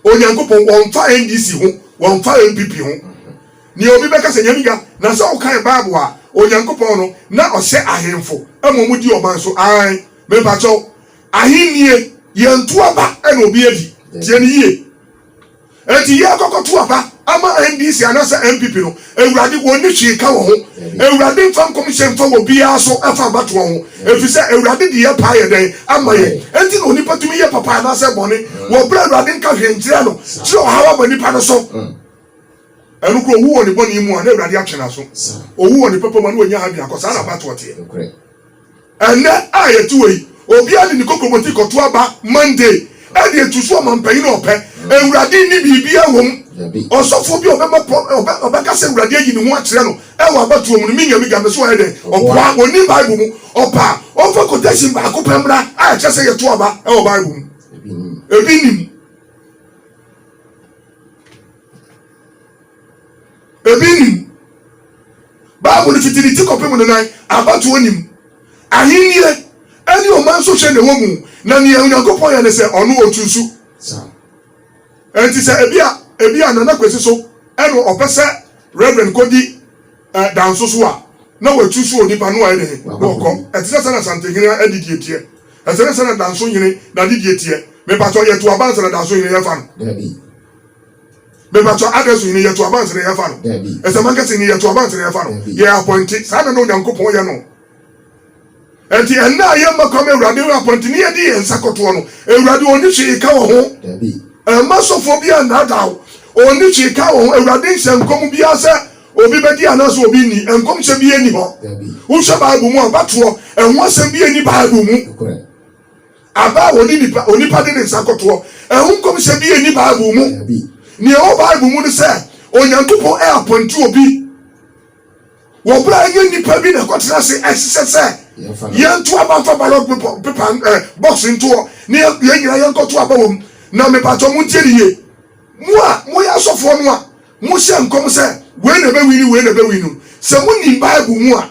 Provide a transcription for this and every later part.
Onyankopɔn wɔmfa NDC ho wɔmfa NPP ho nea obi bɛka sɛ nyame ga na sɛ wokan bible a Onyankopɔn no na ɔhyɛ ahenfo ma ɔmo di ɔman so aane mepakyɛw ahennie yɛnto aba ɛna obi adi tie no yie enti yɛkɔkɔto aba ama NDC anasɛ NPP no Awurade, wɔnni hwee nka wɔn ho. Awurade mfa nkɔmhyɛ mfa wɔ biara so mfa mmatoɔ ho, ɛfiri sɛ Awurade de yɛn paa yɛ dɛn ama yɛn? Enti na onipa tumi yɛ papa anaasɛ bɔne wɔ berɛ a Awurade nka hwee nkyerɛ no kyerɛ ɔhaw aba nnipa no so. Ɛno kora ɔwu wɔ ne bɔne mu a na Awurade atwe n'aso, ɔwu wɔ ne papa mu a na wanya ha biakɔ. Saa na abatoɔ teɛ. Ɛnnɛ a yɛte hɔ yi, obiara de ne kokromoti kɔto aba Monday de atu so ɔmampanyin a ɔpɛ. Awurade nni biribiara wom. Ɔsɔfo bi a ɔbɛma ɔbɛka sɛ Awurade ayi ne ho akyerɛ no wɔ abatoɔ mu no, menya migya me so ayɛ dɛn? Ɔboa, ɔnnim Bible mu. Ɔpɛ a, ɔmfa quotation baako pɛ mmra a ɛkyerɛ sɛ yɛto aba wɔ Bible mu. Ebi nnim. Ebi nnim. Bible no tete ne ti kɔpem ne nan, abatoɔ nni mu. Ahennie ne ɔman sɔhwɛ na ɛwɔ mu, na nea Onyankopɔn yɛ ne sɛ ɔno ɔtu nsu. Enti sɛ ebia, ebia Nana Kwesi so na ɔpɛ sɛ Rev. Kodi eh, Danso so a, na watu nsu onipa no a ɛne he na ɔkɔ. Ɛte sɛ sɛnea Santenhene adidie teɛ. Ɛsɛ ne sɛnea Danso hene n'adidie teɛ. Mepakyɛw, yɛto aba ansa na Danso hene yɛfa no? Daabi. Mepakyɛw, address yi ne yɛ to abansere na yɛ fa no? Dabi. Ɛsɛm ankasa yi ne yɛ to abansere na yɛ fa no? Dabi. Yɛ apɔnte. Saa na na Onyankopɔn yɛ no. Ɛnti ɛnnɛ a yɛ mma kwan ma Awurade yɛ apɔnte ne yɛ de yɛn nsa kɔtoɔ no, Awurade ɔnni hwee ka wɔ ho. Dabi. Ɛmma sɔfoɔ biara nnaadaa wo. Ɔnni hwee ka wɔ ho. Awurade nhyɛ nkɔm biara sɛ obi bɛdi anaa sɛ obi nni. Nkɔmhyɛ biara nni hɔ. Dabi. Wo hwɛ Bible mu a, bɛtoɔ, ɛho asɛm biara nni Bible mu. Nokorɛ. Aba a wɔne nipa, onipa de ne nsa kɔtoɔ, ɛho nkɔmhyɛ biara nni Bible mu. Nea ɛwɔ Bible mu ne sɛ, Onyankopɔn reapɔnte obi wɔ berɛ a ɛnyɛ nnipa bi na ɛkɔtena ase. Ɛsesɛ sɛ yɛnto aba mfa ballot paper, paper eh, box nto hɔ na yɛ- yɛn nyinaa yɛnkɔto aba wɔ mu. Na mepatɔ montie ne yie. Mo a moyɛ asɔfoɔ no a Mohyɛ nkɔm sɛ, 'Wei na ɛbɛwini, wei na ɛbɛwini' no, sɛ munim Bible mu a,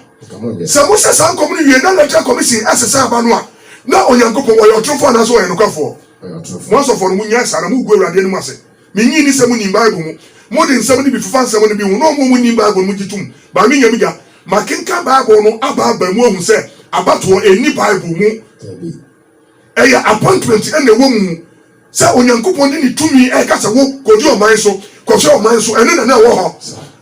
sɛ mohyɛ saa nkɔm no wie na Electoral Commission sesa aba no a, na Onyankopɔn, ɔyɛ ɔtorofoɔ anaasɛ ɔyɛ nokwafoɔ? Mo asɔfoɔ no, monnyae saa, na moregu Awurade anim ase. Mennye nni sɛ monim Bible mu. Mode nsɛm no bi fefa nsɛm no bi ho, na wɔn a wɔnnim Bible no mogye tom. Baa me nya me gya. Makenkan Bible no aba aba mu ahu sɛ abatoɔ nni Bible mu. Ɛyɛ appointment na ɛwɔ mu sɛ Onyankopɔn de ne tumi reka sɛ wo kɔdi ɔman so, kɔhwɛ ɔman so, ɛno na na ɛwɔ hɔ.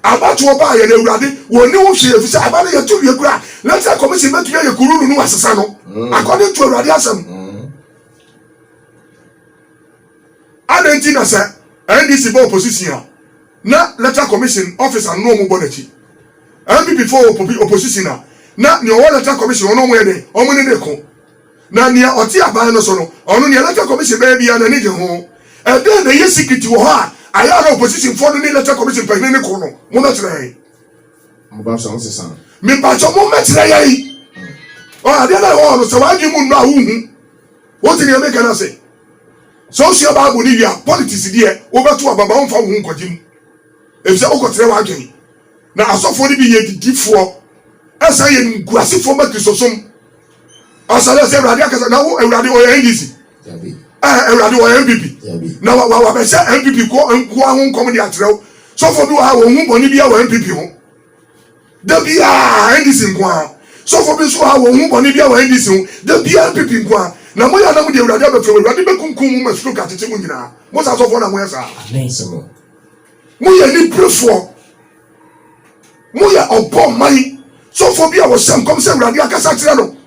Abatoɔ baeɛ na Awurade, wɔnni wo hwee ɛfiri sɛ aba no yɛnte wie koraa, Electoral Commission bɛtumi ayɛ kururu no wɔasesa no according to Awurade asɛm. Adɛn nti na sɛ NDC bɔ opposition a na Electoral Commission officer no na wɔbɔ n'akyi? NPP foɔ wɔ opposition a na nea ɔwɔ Electoral Commission hɔ no wɔyɛ dɛn? Wɔne no reko. Na nea ɔte aban no so no, ɔno nea Electoral Commission bɛyɛ biara n'ani gye ho. Ɛdɛn na ɛyɛ secret wɔ hɔ a ayɛ a na opposition foɔ no ne Electoral Commission panyini no ko no? Mommɛkyerɛ yɛn. Mobɛsɔ wo sesa. Mepakyɛ mommɛkyerɛ yɛn. Ɔɔ adeɛ no a ɛwɔ hɔ no sɛ w'adwene mu nnɔ a wonhu. Wote nea meka no ase? Sɛ wosua Bible no wie a, politics deɛ wobɛto aba ba womfa wo ho nkɔgye mu. Efisɛ wokɔtrɛ w'adwene. Na asɔfoɔ no bi yɛ adidifoɔ ɛsan yɛ animguasefoɔ ma Kristosom. Ɔsɛ dɛ sɛ Awurade akasa na wo Awurade ɔyɛ NDC ɛɛ Awurade ɔyɛ NPP na wa wa wabɛhyɛ NPP kɔ nkoa ho nkɔm de akyerɛ wo. Sɔfo bi wɔ ha wɔn ho bɔne bi wɔ NPP ho. Da biara NDC nkoa. Sɔfo bi nso wɔ ha wɔn ho bɔne bi wɔ NDC ho. Da biara NPP nkoa. Na mo yɛ anam de Awurade abɛfrɛ wo. Awurade bɛkunkum mo ma stroke akyekye mo nyinaa. Mo saa sɔfo na mo yɛ saa. Mo yɛ niperefoɔ. Moyɛ ɔbɔ man sofo bi a wɔhyɛ nkɔm sɛ Awurade akasa kyerɛ no.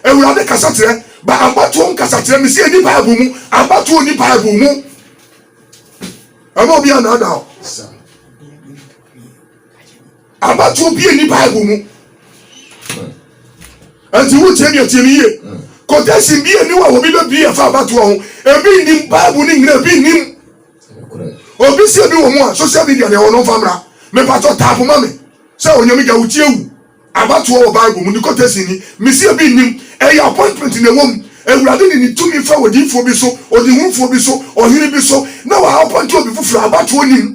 Awurade kasakyerɛ ba abatoɔ mu kasakyerɛ, mese ɛnni Bible mu, abatoɔ nni Bible mu. Ɛma obi anaadaa o. Abatoɔ bie nni Bible mu. Ɛnti wo tie mi atie mi yie. Quotation bie ni wa obi bɛ bie ɛfa abatoɔ ho. Ebi nnim Bible ne nyina ebi nnim. Obi sie bi wɔ mu a social media na ɛwɔ no mfa mmra me patɔ tap ma me sɛ onyame gya wo ti awu abatoɔ wɔ bible mu ne quotation ni me sie bi nnim ɛyɛ appointment na ɛwɔ mu awurade de ne tumi fa odiyifoɔ bi so ɔdehufoɔ bi so ɔhene bi so na wa appoint obi foforɔ abatoɔ nnim.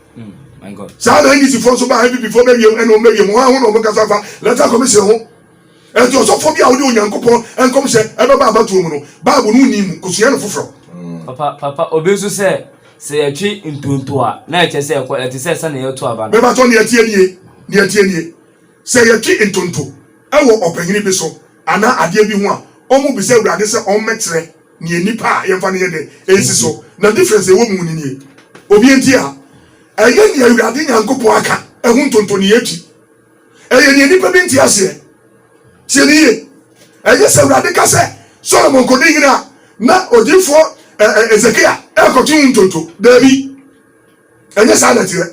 saa na ndc foɔ nso baa npp foɔ bɛwie mu ɛna wɔn bɛwie mu wɔn ho na wɔn kasa fa electoral commission ho ɛnti ɔsɔfoɔ bi a ɔde onyankopɔn nkɔmhyɛ ɛbɛba abatoɔ mu no bible no nni mu kosua no foforɔ. Papa papa obi nso sɛ sɛ yɛtwe ntonto a na ɛkyɛ sɛ ɛkɔ ɛte sɛ sɛnea yɛto aba no. Mebatɔ nea ɛteɛ nie nea ɛteɛ nie. Sɛ yɛtwe ntonto wɔ ɔpanyin bi so anaa adeɛ bi ho a, wɔbisa Awurade sɛ ɔmmɛkyerɛ neɛ nnipa a yɛmfa no yɛ dɛ ɛsi so. Na difference a ɛwɔ mu ne nie, Obi nti a, ɛnyɛ neɛ Awurade Nyankopɔn aka ho ntonto ne yɛtwe, ɛyɛ neɛ nnipa bi nte aseɛ. Tie no yie, ɛnyɛ sɛ Awurade ka sɛ Solomon kɔdi hene a na odiyifoɔ Hesekia rekɔtwe ho ntonto. Daabi. Ɛnyɛ saa na ɛteɛ.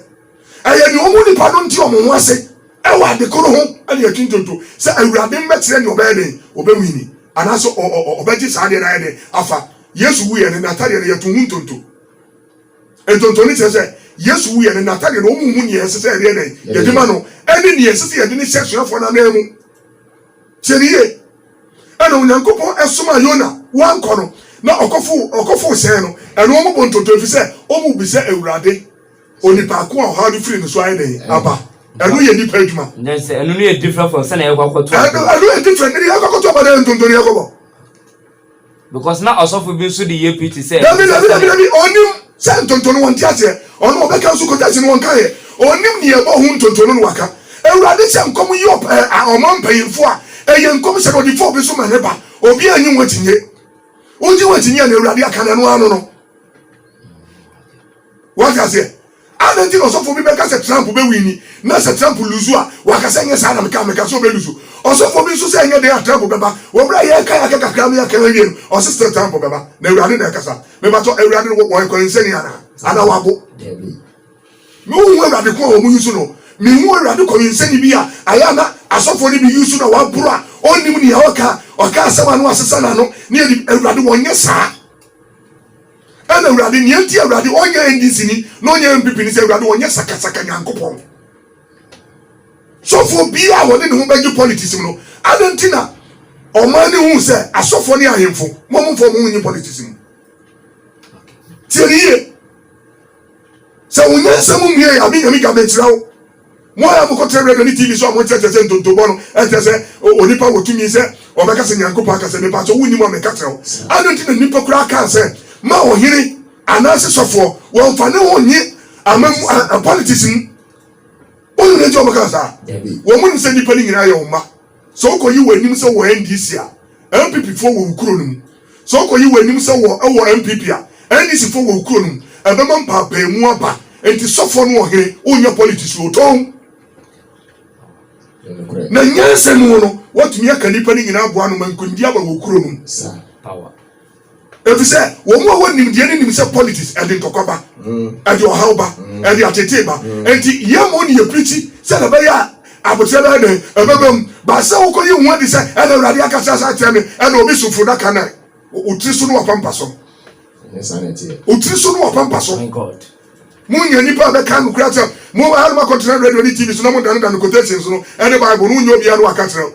Ɛyɛ nea omu nnipa no nte wɔn ho ase wɔ ade koro ho ne atwi ntonto sɛ Awurade no bɛkyerɛ nea ɔbɛyɛ dɛn, ɔbɛnwini anaasɛ ɔbɛgye saa adeɛ no ayɛ dɛn afa. Yesu wuiɛ no, n'atadeɛ no, yɛtoo ho ntonto. Ntonto no kyerɛ sɛ Yesu wuiɛ no, n'atadeɛ no, wɔmmu nea ɛsɛ sɛ yɛde yɛ dɛn? Yɛde ma no ne nea ɛsɛ sɛ yɛde no hyɛ asuafoɔ no ananmu. Tie no yie. na Onyankopɔn somaa Yona wankɔ no na ɔkɔfoo hyɛn no, ɛno ɔmo bɔ ntonto efisɛ ɔmo bisa Awurade onipa ko a ɔhaw no firi ne so ayɛ dɛn aba. Ɛno yɛ nipa adwuma. Nkyɛ sɛ ɛno no yɛ different from sɛnea yɛkɔ akɔto aba no. Ɛno yɛ different, ɛno yɛ yɛkɔ akɔto aba na yɛ ntonto na yɛkɔ bɔ. Because na ɔsɔfo bi nso de yɛ preaching sɛ Dabi, ɛnsɛ dabi, sɛ dabi, yɛ. dabi, ɔnim sɛ ntonto no wɔnte aseɛ, ɔno ɔbɛka nso kɔgyasi no wɔnkaeɛ, ɔnim nea ɛbɔ ho ntonto no na waka. Awurade hyɛ nkɔm yi ɔp ɛ a ɔma mpanyinfoɔ a ɛyɛ nkɔm hyɛ no ɔde fa obi so ma ne ba, obiara nnye ho akyinnye. Wogye ho akyinnye a nea Awurade aka no ɛno ara no no. Wate aseɛ? Adɛn nti na ɔsɔfoɔ bi bɛka sɛ Trump bɛ winni, na sɛ Trump luzu a, waka sɛ ɛnyɛ saa na meka, meka sɛ ɔbɛ luzu. Ɔsɔfoɔ bi nso sɛ ɛnyɛ dɛn a Trump bɛba. Wɔ mmerɛ a yɛreka yɛaka kakra no yɛkan awie no, ɔse still Trump bɛba. Na Awurade na ɛkasa. Mebatɔ, Awurade no wɔyɛ kɔninsani anaa? Anaa wabo? Me nhu Awurade ko a wɔn yusu no. Me nhu Awurade kɔninsani bi a ayɛ a na asɔfoɔ no bi yusu na waboro a ɔnnim nea ɔreka a, ɔka asɛm a na wasesa n'ano, ne ɛdi, Awurade wɔnyɛ saa. Ɛna Awurade, nea nti a Awurade ɔnyɛ Enginsini na ɔnyɛ NPP ne sɛ Awurade ɔnyɛ sakasaka Nyankopɔn. Sɔfoɔ biaa a ɔde ne ho bɛgye politics mu no, adɛn nti na ɔman no huu sɛ asɔfoɔ ne ahemfo, mo a momfa ɔmo ho nnye politics mu? Tie no yie. Sɛ wo nyansa mu mmue a, me Nyame gya, menkyerɛ wo. Mo a mokɔtena radio ne TV so a monkyerɛkyerɛ sɛ ntontobɔ no nkyerɛ sɛ onipa wɔ tumi sɛ ɔbɛka sɛ Nyankopɔn aka sɛ, mepakyɛ wo nnim a meka kyerɛ wo, adɛn nti na nnipa koraa kaa sɛ ma ɔhene anaase sɔfoɔ wɔmfa ne ho nye amammu anaa politics mu? Wonim nea nti a wɔkaa saa? Wɔnnim sɛ nnipa no nyinaa yɛ wo mma? Sɛ ɔkɔ yi w'anim sɛ wɔ NDC a, NPP foɔ wɔ wo kuro no mu. Sɛ ɔkɔ yi w'anim sɛ wɔ wɔ NPP a, NDC foɔ wɔ wo kuro no mu. Ɛbɛma mpaapaamu aba. Nti sɔfoɔ ne ɔhene, wonyɛ politics o, tɔn. Na nyansa mu no, woatumi aka nnipa no nyinaa aboa ano ma nkonimdie aba wɔ wo kuro no mu. Efisɛ wɔn a wɔn nimdeɛ no nim sɛ politics ɛde ntɔkwa ba, ɛde ɔhaw ba, ɛde atetee ba. Enti yɛn mmom na yɛpirikyi sɛnea ɛbɛyɛ a abotire bɛyɛ dɛn? Ɛbɛba mu. Ba sɛ wokɔyi wo ho adi sɛ ɛna Awurade akasa asa akyerɛ me, ɛna obi so funudaka na wo tiri so no w'apampa so. Ɛnyɛ saa na ɛteɛ. Wo tiri so no w'apampa so. My God. Monya nnipa a bɛka nokorɛ asɛm. Mo a na moakɔtena radio ne TV so na modanedane quotations no ne Bible no, wonyɛ obiara na waka kyerɛ wo.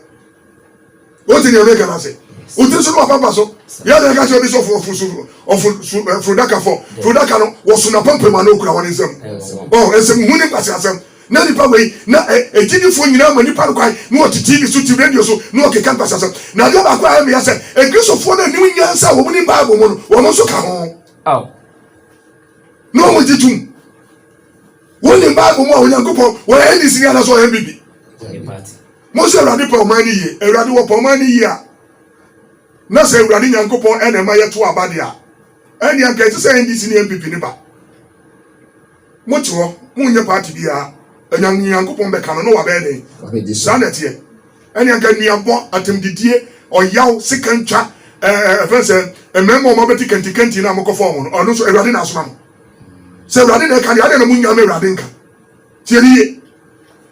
Wote deɛ meka no ase? Wotiri so no wapampa so. Yɛ na ɛka sɛ obi sɛ ɔfo ɔfo so ɔfo so eh, furudaka fɔ furudaka no wɔso na pampam ano okura wɔn nsam. Ɔ oh, nsɛm hu ne nkwasi asɛm. Na nipa wei na egyinifoɔ eh, nyinaa ma nipa no kwan na wɔte TV so ti radio so na wɔkeka nkwasi asɛm. Na adeɛ baako a ɛmea sɛ ekristofoɔ na anim nyansa a wɔn nim Bible mu no wɔn nso ka ho. Na wɔn gye tum. Wɔn nim Bible mu a Onyankopɔn wɔyɛ NDC ni anaasɛ wɔyɛ NBB. Monhwɛ Awurade pɛ ɔman no yie. Awurade wɔpɛ ɔman no yie a, na sɛ Awurade Nyankopɔn na ɛma yɛto aba deɛ a, ɛnneɛ anka ɛte sɛ NDC ne NPP no ba. Mote hɔ, monyɛ party biara, Anyame Nyankopɔn bɛka no na wabɛyɛ dɛn? Saa na ɛteɛ. Ɛnneɛ anka nnuabɔ, atɛmdidie, ɔyaw, sikantwa, ɛɛ ɛfɛn sɛ mmarima a wɔabɛte kantikanti no a mokɔfa wɔn no, ɛno nso Awurade na asoma mo? Sɛ Awurade na ɛka deɛ, adɛn na monyame Awurade nka? Tie me yie.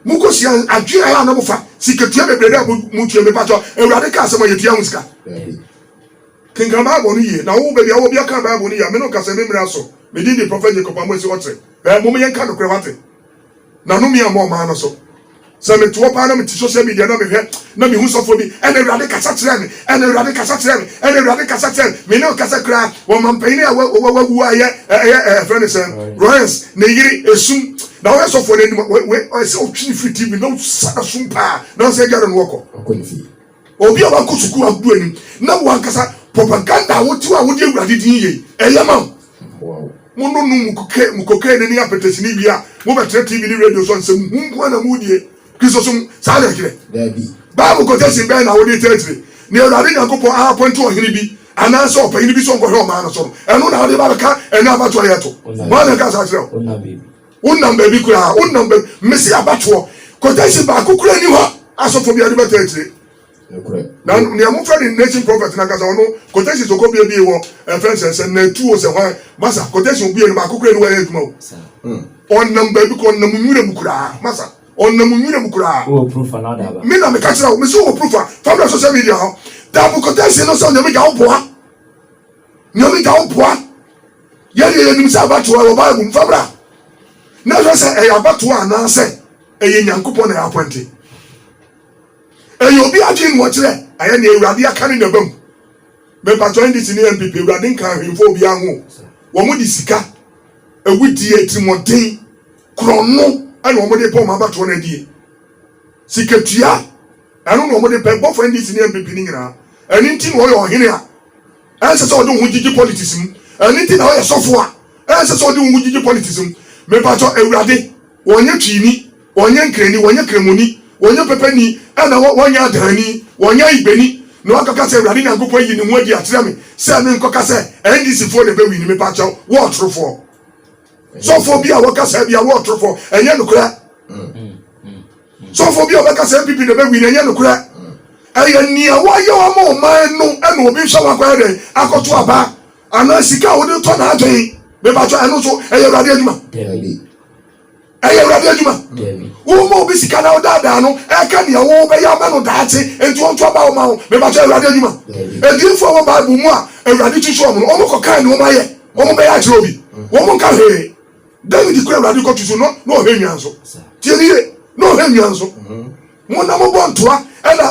Mokɔsua adwene a na mofa sikatua bebrebe a motua mu. Mepakyɛ, Awurade ka asɛm a yɛtua ho sika? Daabi. Kenkan Bible no yie. Na wo, baabi a wowɔ biara kan Bible no yie a. Me ne wo ka sɛ, me mmere aso. Me din de Prɔfɛt Jacob Amoasi Okyere. Ɛɛ, mom yɛnka nokorɛ, woate? Na nnome ammɔ ɔman no so. Sɛ mete hɔ paa na mete social media na mehwɛ na mehu sɔfoɔ bi, ɛna Awurade kasa kyerɛɛ me. Ɛnna Awurade kasa kyerɛɛ me. Ɛnna Awurade kasa kyerɛɛ me. Me ne wo kasa kura wɔ mampanyin a wa wa wawu a yɛ ɛyɛ ɛfrɛ ne sɛn Royans ne yere esum na wɔyɛ sɔfo no anim wɔ wɔ ɔyɛ sɛ ɔtwi ne firi TV na ɔsa na sum paa na ɔsɛ agya no wɔkɔ ɔkɔ ne fie obi a wakɔ sukuu agudu anim na wankasa propaganda a wotiw a wodi Awurade din yie ɛyɛ ma wo. Wow. Mo no no mu kokaine ne apɛtɛsini wie a mobɛtena TV ne radio so ansɛm hu nko na modie Kristosom saa na ɛkyerɛ? Dabi. Bible quotation bɛn na wode kyerɛkyerɛ nea Awurade Nyankopɔn aapɔinte ɔhene bi anaasɛ ɔpanyin bi sɛ ɔnkɔhwɛ ɔman no so no? Ɛno na wode ba bɛka ɛnnɛ abatoɔ a yɛreto? Hwan na ɛkaa saa kyerɛɛ wo? Wonnam baabi koraa. Wonnam baabi. Mese abatoɔ. Quotation baako koraa nni hɔ a asɔfo bi de bɛtaa akyire. Na nea mofa ne nation prophet no ankasa ɔno quotations ɔkɔ bie bie wɔ ɛfɛ nsɛnsɛm na etu o sɛ hwan masa quotation obie no baako kura ni wɔ ɛyɛ adwuma o ɔnam baabi kɔ ɔnam nwura mu koraa masa ɔnam nwura mu koraa wɔ proof anaa daaba me na meka kyerɛ wo mesi wɔ proof a family social media hɔ daabo quotation no sɛ onyame gya wo boa nyame gya wo boa yɛdeɛ yɛnim sɛ abatoɔ wɔ bible mu famra na hwɛ sɛ ɛyɛ abatoɔ anaasɛ ɛyɛ nyankopɔn na yɛ apɔnte Ɛyɛ obi adwene na ɔkyerɛ. Ayɛ nea awurade aka ne naba mu. Me mpakyɛw NDC ne NPP awurade nka ahwimfo obiara ho o. Wɔn de sika, awudie, atirimuɔden, korɔno ɛna wɔn de pɛ wɔn abatoɔ no adie. Sika tua ɛno na wɔn de pɛ bɔfo NDC ne NPP no nyinaa. Ɛno nti na ɔyɛ ɔhene a ɛnsɛ sɛ ɔde wo ho gyigye politics mu. Ɛno nti na ɔyɛ sɔfo a ɛnsɛ sɛ ɔde wo ho gyigye politics mu. Me mpakyɛw awurade. Wɔnyɛ Twini, wɔnyɛ Nkrani, wɔnyɛ Kramoni, wɔnyɛ Pɛpɛni, ɛna wɔnyɛ Adaani, wɔnyɛ Ibani, na wɔakɔka sɛ Awurade Nyankopɔn ayi ne ho adi akyerɛ me sɛ menkɔka sɛ NDC foɔ na ɛbɛwini. Mepakyɛw, wo ɔtorofoɔ. Sɔfoɔ bi a wɔka saa biara, wo ɔtorofoɔ. Ɛnyɛ nokorɛ. Sɔfoɔ bi a ɔbɛka sɛ NPP na ɛbɛwini, ɛnyɛ nokorɛ. Ɛyɛ nea wɔayɛ ama ɔman no na obi nso a wakɔyɛ dɛn akɔto aba. Anaa sika a wode tɔ n'adwene. Me pa kyɛw, ɛno nso ɛyɛ Awurade adwuma? Dabi. Ɛyɛ Awurade adwuma? Dabi. Wo ma obi sika na wodaadaa no, ɛka nea wo bɛyɛ ama no daakye, enti ɔnto aba wo ma wo. Me pa kyɛw, Awurade adwuma? Dabi. Adiyifo a ɛwɔ Bible mu a Awurade tutu wɔn no, wɔn kɔ kan de wɔn ayɛ wɔn bɛyɛ akyerɛ obi. Wɔn nka hwee. David kura Awurade kɔ tutu no, na ɔhwɛ nnuan nso. Tie me yie, na ɔhwɛ nnuan nso. Mo na mo bɔ ntoa ɛna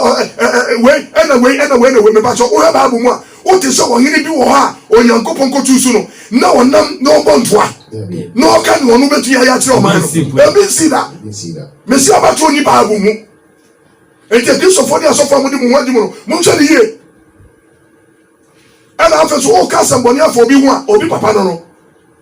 wei ɛna wei ɛna wei ɛna wei mepakyɛw wohwɛ bible mu a wote sɛ ɔhene bi wɔ hɔ a Onyankopɔn kɔtuu so no na ɔnam na ɔbɔ ntoa na ɔka nea ɔno bɛtumi ayɛ akyerɛ ɔman no ebi nsi da mesi abatoɔ ni bible mu enti akristofoɔ ne asɔfoɔ a mode mo ho adi mu no monhwɛ ne yie ɛna afei so woka asɛmbɔne afa obi ho a obi papa no no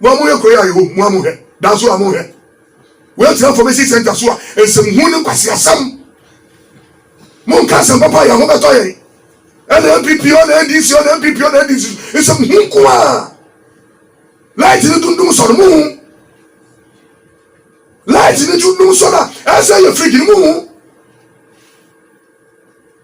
Mo a moyɛ kurow a ɛwom, mo a monhwɛ, danso a monhwɛ. Woagyina information center so a nsɛmhunu ne nkwaseasɛm. Monka asɛm papa a yɛn ho bɛtɔ yɛn. Ɛna NPP o, ɛna NDC o, ɛna NPP o, ɛna NDC so. Nsɛmhunu nko a. Light no dundum sɔ no, mohu? Light no dundum sɔ no a, ɛsɛ yɛ fridge no, mohu?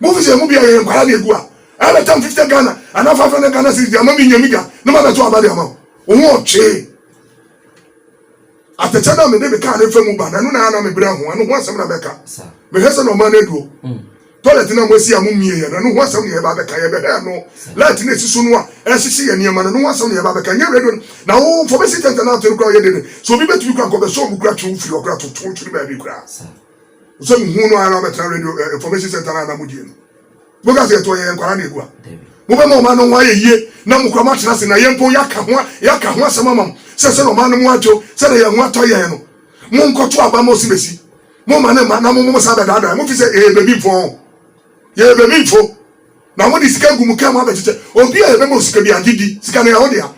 Mofi sɛ emu bi a yɛyɛ nkwalaa de egu a, ɛyɛ bɛ tan fifte Ghana anaa five hundred Ghana cedis de ama me nya me gya na ma bɛ to aba de ama wo ho ɔtwee atɛkyɛ no a mede me kaa no fa mu ba na ɛno na ɛyɛ a na me brɛ ho ɛno ho asɛm na mɛka me hwɛ sɛ na ɔman no aduo toilet no a moasi a mo mie yɛ no ɛno ho asɛm na yɛba bɛka yɛ bɛ hɛ no light no ɛsi so no a ɛhyehye yɛ nneɛma no ɛno ho asɛm na yɛba bɛka nyɛ radio no na wo fɔmɛsi tɛntɛn na ato no kora ɔyɛ dede sɛ obi bɛtumi kora nkɔ bɛ sɛ ɔmo kora twe wo firi hɔ kora to to twere baabi kora. Sɛ muhu no ara na ɔbɛtena radio eh, information center na mo die no. Mo ka sɛ yɛtɔ yɛn nkwara na egua. Mo bɛma ɔman no ho ayɛ yie na mo kura mo atena ase na yɛn mpo yɛaka ho yɛaka ho asɛm ama mo sɛ sɛ na ɔman no mu adwo sɛ na yɛn ho atɔ yɛn no. Mo nkɔto aba mo si besi. Mo ma ne ma na mo mo mo san bɛdaadaa mo fi sɛ yɛyɛ bebimfo ho. Yɛyɛ bebimfo. Na mo de sika gu mo kɛn mo abɛkyekyɛ obi a yɛbɛma osika bi agye di sika no yɛ ho dea.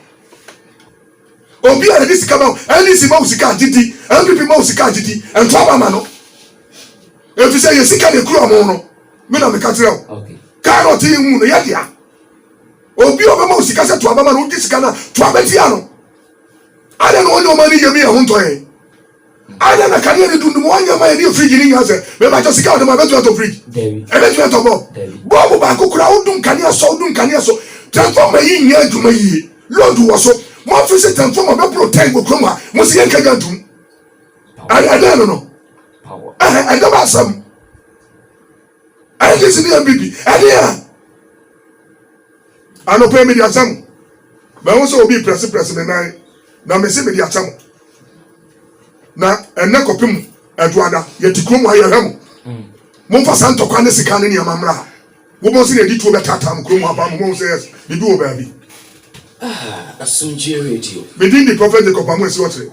Obi a yɛde sika ma wo, NDC ma wo sika a, gye di, NPP ma wo sika a, gye di, nto aba ma no. Efisɛ yɛ sika na ekura wɔn no, me na meka kyerɛ wo. Kaa na ɔte yɛn mu no, yɛ dea. Obi a ɔbɛma wo sika sɛ to aba ma no, wogye sika no a, to aba tia no. Adɛn na wɔn nneɛma no yɛ mu yɛ ho ntɔ yɛn? Adɛn na kanea ne dundum wɔ nneɛma a ɛne frigye no nnya sɛ? Mepakyɛ, sika a wɔde ma no bɛtumi atɔ frigye? Dabi. Ɛbɛtumi atɔ bɔlb? Dabi. Bɔlb baako koraa a wodum kanea so a wodum kanea so, transformer yi nnyɛ adwuma yiye. Load wɔ so. Mo afe sɛ transformer bɛboro tɛn wɔ kurom ha, mo se yɛnka gya ntom? Power. Ɛ, ɛdɛn no no? Power. Ɛhɛ, ɛdɛn asɛm? Ayɛ kɛse ne yɛn biribi ɛne a. Anɔpa yi mede akyɛ mo. Mahu sɛ obi reprɛseprɛse me nan, na mese mede akyɛ mo. Na ɛnnɛ kɔpem Adwoada, yɛte kurom ha yɛhwɛ mo. Mm. Momfa saa ntɔkwa ne sika ne nneɛma mmra ha. Wobɛhu sɛnea yɛde tuo bɛtaataa mo kurom ha paa ma moahu sɛ yes, biribi wɔ baabi. Ah, Asomdwoe Radio. Me din de Prophet Jacob Amoasi Ɔkyere.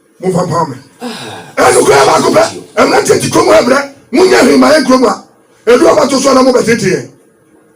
Momfa mpaw me. Ɛno koraa baako pɛ. Mmerante nti kurom ha mmerɛ. Monyɛ hwee mma yɛn kurom ha. Edu a mobɛto so a na mobɛtete yɛn.